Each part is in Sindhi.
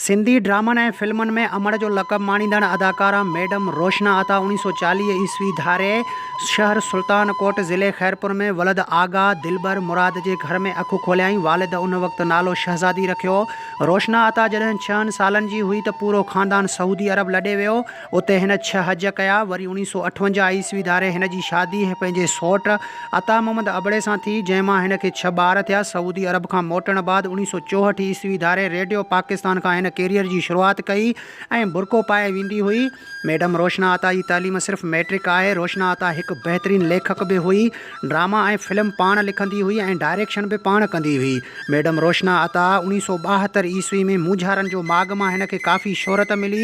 سنڌي ڊرامن ۽ فلمن ۾ امڙ جو لقب ماڻيندڙ اداڪارا ميڊم روشنا عطا اوڻيھ سؤ چاليھ عيسوي ڌاري شهر سلطان ڪوٽ ضلعي خيرپور ۾ ولد آغا دلبر مراد جي گهر ۾ اک کوليائين والد ان وقت نالو شهزادي رکيو روشنا عطا جڏهن ڇهن سالن جي هئي ته پورو خاندان سعودي عرب لڏي ويو اتي هن ڇهه حج ڪيا. وري اوڻيهه سؤ اٺونجاهه عيسوي ڌاري هن جي شادي پنهنجي سئوٽ عطا محمد ابڙي سان ٿي، جنهن مان هن کي ڇهه ٻار ٿيا. سعودي عرب کان موٽڻ بعد اوڻيهه سؤ چوهٺ عيسوي ڌاري ريڊيو پاڪستان کان هن ڪيريئر جي شروعات ڪئي ۽ برقعو پائي ويندي هئي. ميڊم روشنا عطا جي تعليم صرف مئٽرڪ آهي. روشنا عطا هڪ بهترين ليکڪ به هئي. ڊراما ۽ فلم پاڻ لکندي هئي ۽ ڊائريڪشن به پاڻ ڪندي هئي. ميڊم روشنا عطا، اوڻيهه سؤ ٻاهتر عيسوي ۾ مونجهارن جو ماڳ مان هن کي ڪافي شهرت ملي.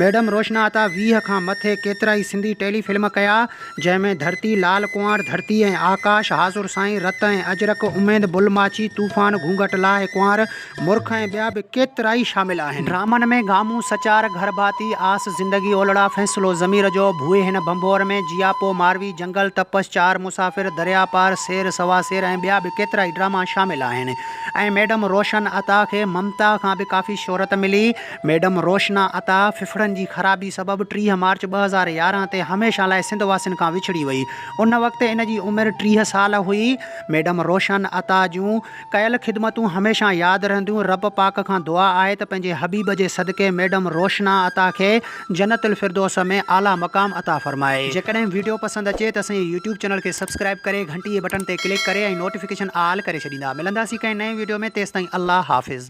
ميڊم روشنا عطا ويهه کان مٿي ڪيترائي سنڌي ٽيلي فلم ڪيا، جنهن ۾ ڌرتي، لال ڪنوار، ڌرتي ۽ آڪاش، حاضر سائين، رت ۽ اجرڪ، اميد، بل ماڇي، طوفان، گهونگهٽ لاهه ڪنوار، مرک ۽ ٻيا به ڪيترائي شامل آهن. ڊرامن ۾ گامون، سچار، گهر ڀاتي، آس، زندگي اولڙا، فيصلو ضمير جو، ڀوئي هن ڀنڀور ۾، جياپو، ماروي، جنگل، تپس، چار مسافر، درياء پار، سير سوا سير ۽ ٻيا به ڪيترائي ڊراما شامل آهن ۽ ميڊم روشن عطا کي ممتا کان به ڪافي شهرت ملي. ميڊم روشنا عطا ڦڦڙن جي خرابي سبب ٽيهه مارچ ٻه هزار يارهن تي هميشه لاء سنڌ واسين کان وڇڙي وئي. ان وقت ان جي عمر ٽيهه سال هئي. ميڊم روشن عطا جون. ڪيل خدمتون هميشه ياد رهنديون رب پاڪ کان دعا آهي ته پنهنجي حبيب جي صدقي ميڊم روشنا عطا کي جنت الفردوس ۾ اعليٰ مقام عطا فرمائي. جيڪڏهن ويڊيو پسند اچي ته اسانجي يوٽيوب چينل کي سبسڪرائيب ڪري گهنٽي جي بٽڻ تي ڪلڪ ڪري ۽ نوٽيفڪيشن آل ڪري ڇڏيندا ملنداسين ڪنهن نئين ويڊيو ۾ تيستائين الله حافظ.